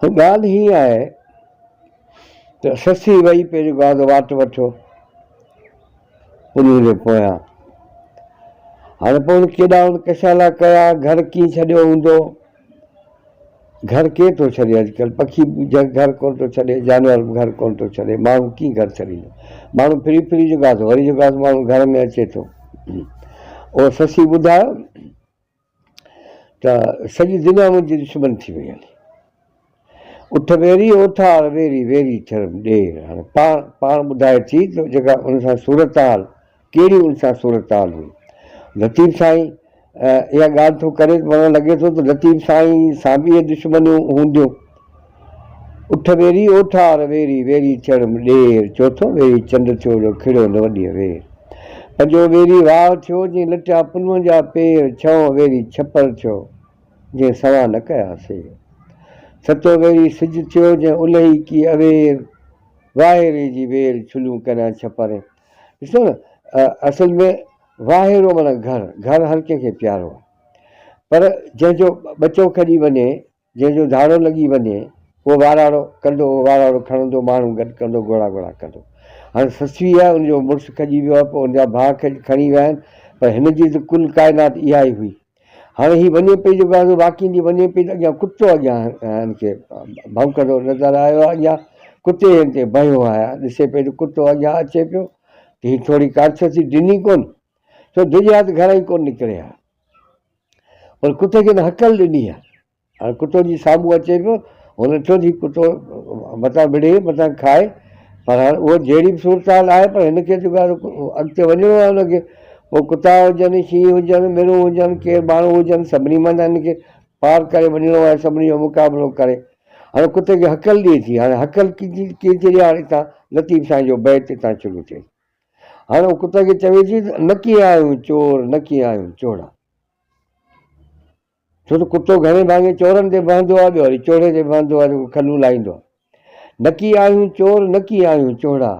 ڳالهه هيء آهي ته سسي وئي پهريون گاد واٽ وٺيو پنهون جي پويان. هاڻي پوء هن ڪيڏا ان ڪشالا ڪيا، گهر ڪيئن ڇڏيو هوندو؟ گهر ڪير ٿو ڇڏي اڄڪلهه؟ پکي به گهر ڪونه ٿو ڇڏي، جانور به گهر ڪونه ٿو ڇڏي، ماڻهو ڪيئن گهر ڇڏيندو؟ ماڻهو ڦري ڦري جو گاد وري جو گاد ماڻهو گهر ۾ اچي ٿو. اهو سسي ٻڌايو. ته سڄي دنيا منهنجي دشمن ٿي وئي هلي. اٺ ويري اوٺار ويري ويري ٿرم ڏير هاڻي پاڻ پاڻ ٻڌائي ٿي ته جيڪا ان سان صورتحال ڪهڙي ان سان صورتحال هئي. لطيف سائين اها ڳالهه ٿو ڪري ته پاڻ لڳي ٿو ته لطيف سائين سان به اهي دشمنيون هونديون. اٺ ويري او ٺار ويري، ويري چڙ ڏير، چوٿون ويري چنڊ ٿيو جو کڙيو نه وڏيء وير، پنجون ويري واهه ٿيو جنهن لٽيا پلون جا پير، ڇهون ويري ڇپر ٿيو جنهن سوان نه ڪيا سير، ستون ويري سج ٿيو جنهن الهي ڪي اوير، واهيري جي وير ڇليون ڪريان ڇپر ۽ ڏسو نه اصل ۾ واهيرو معنيٰ گهر، گهر هر ڪنهن کي پيارو آهي پر جنهن جو ٻچو کڄي وڃي جنهن جو ڌاڙو لڳي وڃي، اهو واراڙو ڪندو، اهو واراڙو کڻندو، ماڻهو گڏ ڪندو، گهوڙا گهوڙا ڪندو. هاڻي سسويء ان جو مڙس کڄي ويو آهي، پوء ان جا ڀاء کڄ کڻي ويا آهن، پر هن جي ته ڪل ڪائنات اها ئي هئي. هاڻي هي وڃي پئي، جيڪو آهي سو واڪيندي وڃي پئي ته اڳيان ڪتو اڳيان هن کي ڀونڪندو نظر آيو آهي، اڳيان ڪتي هن تي بنهيو آهي، ڏسي پئي ته ڪتو اڳيان اچي پيو، ته هي ٿوري ڪارڇسي ڊني ڪونه، سو ڊڄيا ته گهران ئي ڪونه نڪري ها. پر ڪتي کي ته هڪل ڏني آهي. هاڻي ڪتو جي سامهون اچي پيو، هن ڏٺو ته هي ڪتو متان وڙهي، متان کائي، پر هاڻي اها جهڙي به صورتحال آهي پر هن کي ته اڳتي وڃڻو آهي هن کي. پوء ڪتا هجن، شينهن هجن، مرون هجن، ڪير ماڻهو هجن، سڀني منجهان هن کي پار ڪري وڃڻو آهي، سڀني جو مقابلو ڪري. هاڻي ڪتي کي هڪل ڏئي ٿي، هاڻي هڪل ڪيئن ٿي ڏئي هاڻي اتان لطيف سائين جو بيت اتان شروع ٿئي. هاڻي هو ڪتي کي چوي ٿي ته نه ڪي آهيون چور، نه ڪي آهيون چوڙا. ڇو ته ڪتو گهڻي ڀاڱي چورن تي وهندو آهي، ٻيو وري چوڙي تي وهندو آهي، جيڪو کلون لاهيندو آهي. نه ڪي آهيون چور، نه ڪي آهيون چوڙا.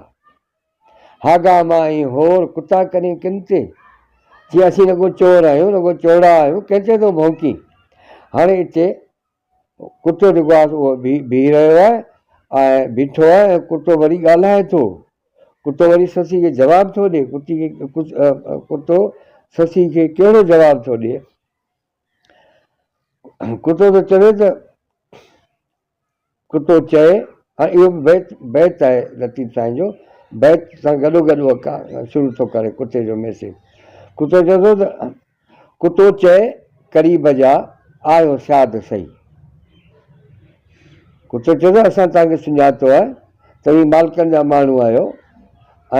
هاڳا مان ۽ هور ڪتا ڪرين ڪن تي. چي اسين نه ڪو چور آهيون، نه ڪو چوڙا آهيون، ڪنهن تي ٿو ڀونڪين. هاڻي اتي ڪتو جيڪو آهي سو اهو بيهي رهيو آهي ۽ بيٺو آهي ۽ ڪتو وري ڳالهائي ٿو. ڪتو وري سسئي کي جواب ٿو ڏي. ڪتي کي ڪتو سسئي کي ڪهڙو جواب ٿو ڏي. ڪتو ٿو چوي ته ڪتو چئي هاڻي اهو به بيت بيت آهي لطيف سائين جو بيت سان گڏو گڏ اهو شروع ٿو ڪري ڪتي جو ميسيج ڪتو چوي ٿو ته ڪتو چئي قريب جا، آهيو شاد سهي. ڪتو چيو ته اسان توهان کي سڃاتو آهي، توهين مالڪن جا ماڻهو آهيو ۽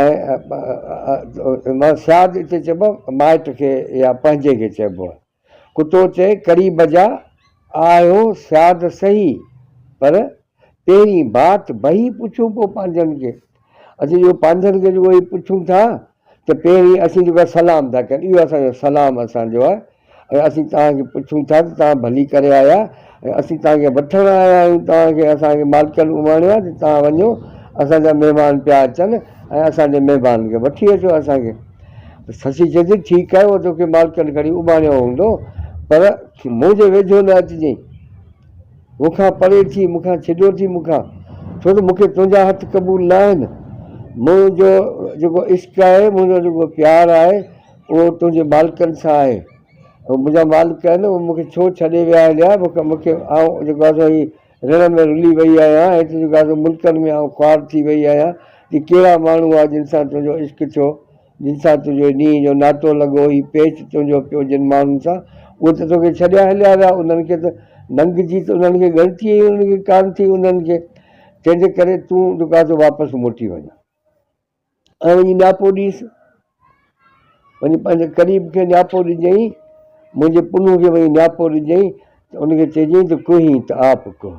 شاد اتي چئبو آهي مائٽ کي يا پنهنجي کي چئبو آهي. ڪتو چئي قريب جا، آهيو شاد سهي، پر پهرين بات بهي پڇون پوء پنهنجن کي. اسين جو پنهنجن کي جو اهي پڇون ٿا ته پهرين اسين توکي سلام ٿا ڪيون، اهو اسان جو سلام اسان جو آهي ۽ اسين توهان کي پڇون ٿا ته توهان ڀلي ڪري آيا ۽ اسين توهان کي وٺڻ آيا آهيون، توهان کي اسان جي مالڪن اماڻيو آهي ته توهان وڃو، اسان جا مهمان پيا اچن ۽ اسان جي مهمانن کي وٺي اچو اسان کي. ته سسي چئي ٿي، ٺيڪ آهي، اهو توکي مالڪن کڻي اماڻيو هوندو، پر منهنجي ويجهو نه اچجئين. مون کان پري ٿي، مون کان ڇڏيو ٿي مون کان، ڇو ته مون کي تنهنجا هٿ قبول نه آهن. منهنجو جيڪو عشق آهي، منهنجو جيڪو پيار آهي، اهو تنهنجي مالڪن سان آهي. اهي منهنجا مالڪ آهن، اهي مون کي ڇو ڇڏي ويا آهن يا مون کي آئون جيڪو آهي سو هي رڻ ۾ رلي وئي آهيان، هت جيڪو آهي سو ملڪن ۾ آئون خوار ٿي وئي آهيان، هي ڪهڙا ماڻهو آهي جن سان تنهنجو عشق ٿيو؟ جن سان تنهنجو ڏينهن جو ناتو لڳو، هي پيچ تنهنجو پيو جن ماڻهن سان، اهي ته توکي ڇڏيا هليا ويا، انهن کي ته ننگ جي ته انهن کي ڳڻتي ئي انهن کي ڪانه ٿي، انهن کي تنهنجي ڪري تون جو ڪا ٿو واپس موٽي وڃان ۽ وڃي نياپو ڏيس، وڃي پنهنجي قريب کي نياپو ڏجئين، منهنجي پنهون کي وڃي نياپو ڏجئين ته ان کي چئجئين ته ڪهين ته آپ ڪهه.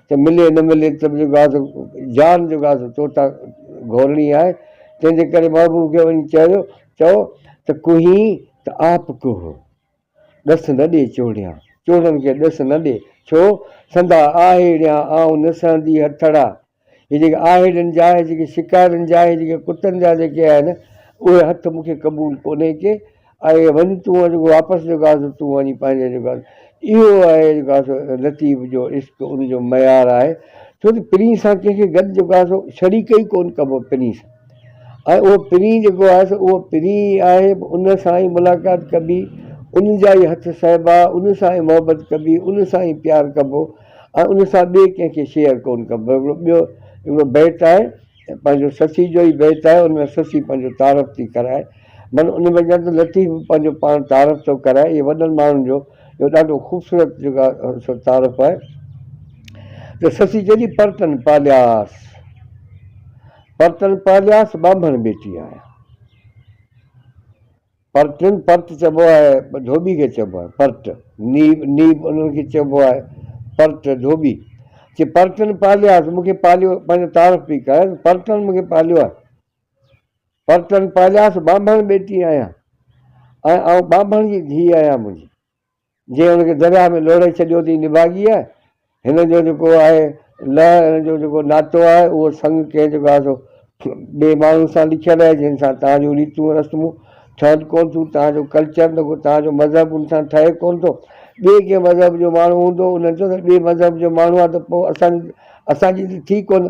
ته ملي نه ملي ته به جيڪو آهي سو جان جيڪو آهي سو تو تان گهورڻي آهي، تنهن جي ڪري محبوب کي وڃي چيو چئو ته ڪهين ته آپ ڪوه، ڏس نه ڏي چوڙيان، چوڙن کي ڏس نه ڏي، ڇو؟ سندا آهيڙيان آئون نه سهندي هٿڙا، هي جيڪي آهيڙين جا هي جيڪي شڪارين جا هي جيڪي ڪتن جا جيڪي آهن اهي هٿ مون کي قبول ڪونهي ڪي آهي وڃ تون جيڪو واپس جيڪو آهي سو تون وڃي پنهنجي جيڪو آهي اهو آهي جيڪو آهي سو لطيف جو عشق ان جو معيار آهي ڇو ته پرينء سان ڪنهن کي گڏ جيڪو آهي سو شريڪ ئي ڪون ڪبو پرينء سان ۽ اهو پرينء جيڪو آهي سو اهو پرينء ئي آهي ان سان ئي ملاقات ڪبي ان جا ئي هٿ سهبا ان سان ئي محبت ڪبي ان سان ئي پيار ڪبو ۽ ان سان ٻئي ڪنهن کي شيئر ڪون ڪبو هڪڙو ٻيو هڪڙو بيت آهي پنهنجو سسي جو ئي بيت آهي ان ۾ سسي پنهنجو تعارف ٿي ڪرائي من ان ۾ ڄڻ ته لطيف به پنهنجو پاڻ تعارف ٿو ڪرائي اهي وڏن ماڻهن جو جو ڏاڍو خوبصورت جيڪا تعارف آهي ته سسي چئي ٿي پرتن پالياس پرتن پالياس ٻانڀڻ ٻيٽي آهيان پرٽن، پرٽ چئبو آهي ڌوٻي کي چئبو آهي پرٽ، نيب، نيب انهن کي چئبو آهي پرٽ، ڌوٻي. چي پرٽن پالياس، مون کي پاليو، پنهنجو تعارف پئي ڪرائي ته پرٽن مون کي پاليو آهي. پرٽن پالياس، ٻانڀڻ ٻيٽي آهيان ۽ آئون ٻانڀڻ جي ڌيء آهيان منهنجي. جنهن هن کي درياهه ۾ لوڙهي ڇڏيو ٿي نڀاڳيء، هن جو جيڪو آهي لئه، هن جو جيڪو ناتو آهي، اهو سڱ ڪنهن جيڪو آهي سو ٻئي ماڻهن سان لکيل آهي، جن سان توهان جون ريتون رسمون ٺهن ڪونه ٿيون، توهان جو ڪلچر نه ڪو توهان جو مذهب ان سان ٺهي ڪونه ٿو، ٻئي ڪنهن مذهب جو ماڻهو هوندو، انهن چيو ته ٻئي مذهب جو ماڻهو آهي ته پوء اسان جي اسان جي ته ٿي ڪونه.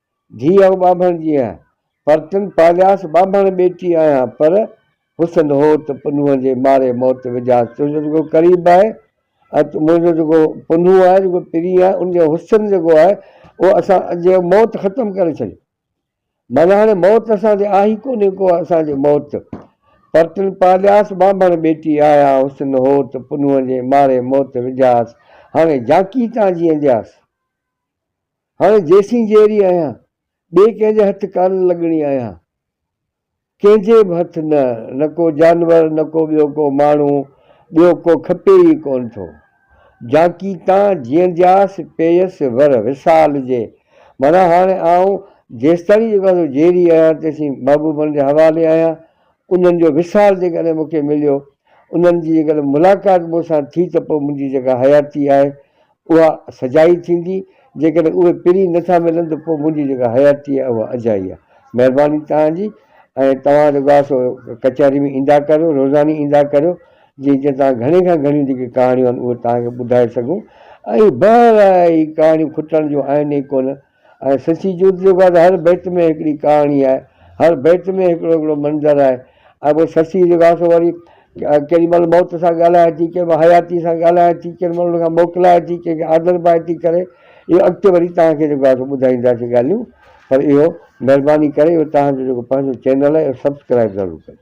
ڌيء آئون ٻانڀڻ جي آهيان، پر تن پالياس ٻانڀڻ ٻيٽي آهيان، پر حسن هو ته پنهونء جي ماري موت وجهاس، تنهنجو جيڪو قريب آهي ۽ تون منهنجو جيڪو پنهون آهي، جيڪو پرين آهي، ان جو حسن جيڪو آهي، اهو اسان جي موت ختم ڪري ڇڏيو. معنيٰ هاڻي موت اسان جي آهي ئي ڪونهي ڪو اسان جي موت. پر تن پالياس ٻانڀڻ ٻيٽي آهيان، حسن هو ته پنهونء جي ماري موت وجهاس، هاڻي جانڪي تان جيئندياس. هاڻي جيسين جيئري آهيان، ٻئي ڪنهن جي هٿ ڪانه لڳڻي آهيان. ڪنهن جي به هٿ نه، نه ڪو جانور، نه ڪو ٻيو ڪو ماڻهو، ٻيو ڪو کپي ئي ڪونه ٿو. جانڪي تان جيئندياس پيئيس ور وصال جي. معنيٰ هاڻي آئون جيستائين جيڪو آهيان سو جيئري آهيان، تيسين محبوبن جي حوالي آهيان. انهن جو وصال جيڪڏهن مون کي مليو، انهن جي جيڪڏهن ملاقات مون سان ٿي ته پوء منهنجي جيڪا حياتي آهي، اها سجائي ٿيندي، جيڪڏهن اهي پرين نه ٿا ملن ته پوء منهنجي جيڪا حياتي آهي اها اجائي آهي. مهرباني توهان جي ۽ توهان جو گاهه سو ڪچهري ۾ ايندا ڪريو، روزاني ايندا ڪريو، جيئن جيئن توهان گهڻي کان گهڻيون جيڪي ڪهاڻيون آهن اهي توهان کي ٻڌائي سگهون ۽ بهرحال اهي ڪهاڻيون کٽڻ جون آهن ئي ڪونه. ۽ سچي جوت جو گهر هر بيت ۾ هڪڙي ڪهاڻي آهي هر بيت ۾ هڪڙو هڪڙو منظر آهي ۽ پوء سچي جو گهر سو وري ڪيڏي مهل موت سان ڳالهائي ٿي ڪيڏي مهل حياتي سان ڳالهائي ٿي ڪيڏي مهل ان کان موڪلائي ٿي ڪنهن کي آڌر پائي ٿي ڪري اهو اڳتي وري توهان کي جيڪو آهي سو ٻڌائينداسين ڳالهيون پر اهو مهرباني ڪري اهو توهان جو جيڪو پنهنجو چينل آهي اهو سبسڪرائب ضرور ڪجو.